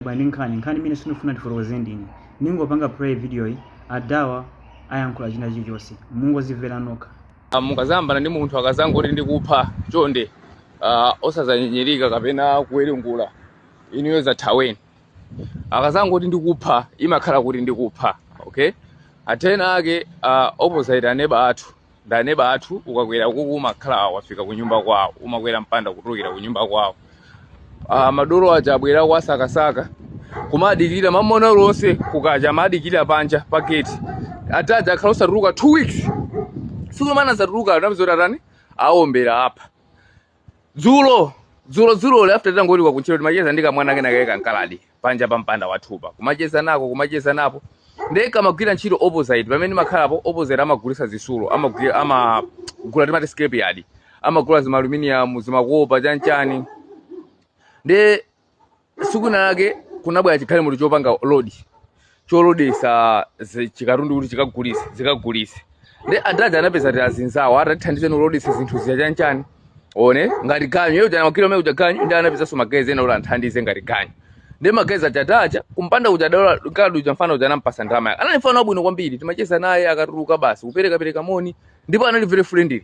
Bwa ndi nkhani? Nkhani imene sindikufuna ndifotokoze ndine. Ndingopanga play videoyi adhawa ayankhula china chilichonse. Mungozimvera nokha. Mukazayambana ndi munthu akazangoti ndikupha, chonde uh, osazanyinyirika kapena kuwerengera, inuyo zathaweni. Akazangoti ndikupha, imakhala kuti ndikupha. Okay, atena ake uh, opposite aneba athu ndi neba athu ukakwera ukuku umakhala wafika kunyumba kwawo umakwera mpanda kutulukira kunyumba kwawo Ah, madolo aja abwera kuwasakasaka kumadikirira mamawa onse kukacha amadikirira panja pa gate adha aja akhala osatuluka two weeks siku lomwe anazatuluka anangoti atani awombera apa dzulo dzulo dzuloli after titangochoka kuntchito timacheza ndi kamwana kena kale kamakhaladi panja pa mpanda wathupa kumacheza nako kumacheza napo ndiye kamagwira ntchito opposite pamene ndimakhalapo opposite amagulisa zisulo amagwira amagula timati scrap yard amagula zimaluminium zimakopa chanchani ndiye tsiku lina lake kunabwera chigalimoto chopanga load cholodesa zi- chikatundu kuti chikagulise zikagulise nde adha anapeza kuti azinzawo atathandizeni kulodesa zinthu zija chanchani ngati ganyu iyo jana makilomita kuja ganyu ndi anapezanso magaizi ena kuti anthandize ngati ganyu nde magaizi achatacha kumpanda kuja dala kadu uja mfana uja anampasa ndalama yake anali mfana wabwino kwambiri timacheza naye akatuluka basi kupereka pereka moni ndipo anali very friendly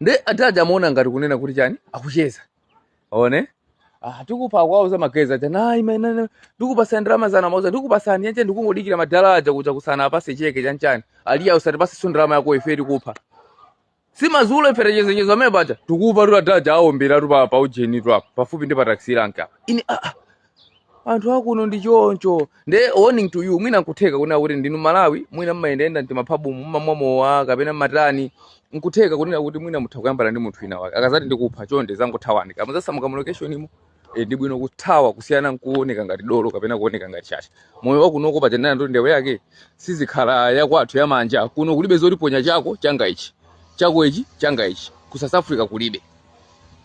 nde adadi amaona ngati kunena kuti chani akucheza one ah, tikupa kwauza magezi aja nayi maenene ndikupasani ndalama zana mauza ndikupasani yanche ndikungodikira madala aja kuja kusana apase cheke chanchani aliya usatipase so ndalama yako ife tikupha si mazulo ife tachenzechezo amene paja tikupa tu adaja aombera tu pa pa ujeni tu apa pafupi ndi pa taxi rank apa ini ah, ah. anthu akuno ndi choncho nde warning to you mwina nkutheka kunena kuti ndinu Mmalawi mwina mmayendayenda mtimaphabumu mmamwa mowa kapena matani nkutheka kunena kuti mwina mutha kuyambana ndi munthu wina wake akazati ndikupha chonde zangothawani kama zasamuka mu location imo e, ndi bwino kuthawa kusiyana nkuoneka ngati dolo kapena kuoneka ngati chacha moyo wakunoko paja nanena ndoti ndewu yake siikhala yakwathu yamanja kuno kulibe zoti ponya chako changa ichi chako ichi changa ichi ku south africa kulibe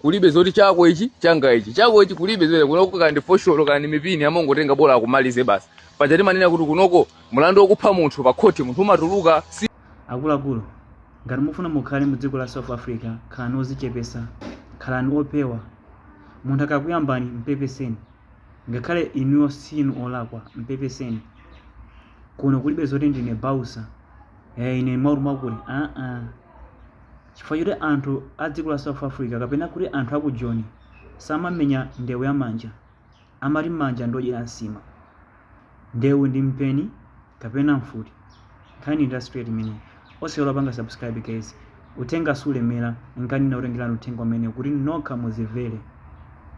kulibe zoti chako ichi changa ichi chako ichi kulibe zimenezo kunoko kandi fosholo kandi mipini amangotenga bola akumalize basi paja timanena kuti kunoko mlandu wokupha munthu pa khoti munthu umatuluka so akuluakulu ngati mufuna mukhale mu dziko la south africa khalani ozichepesa khalani opewa munthu akakuyambani mpepeseni ngakhale inuyo sinu olakwa mpepeseni kuno kulibe zoti ndine bausa eh, ine maulu makuli aa chifukwa choti anthu a dziko la South Africa kapena kuti anthu a ku Joni samamenya ndewu ya manja, amati manja ndi odyera nsima. Ndewu ndi mpeni kapena mfuti. Nkhani ndi ya straight imeneyi. Osaiwala kupanga subscribe guys. Uthenga sulemera, nkhani inakutengerani uthenga umenewu kuti nokha muzimvere.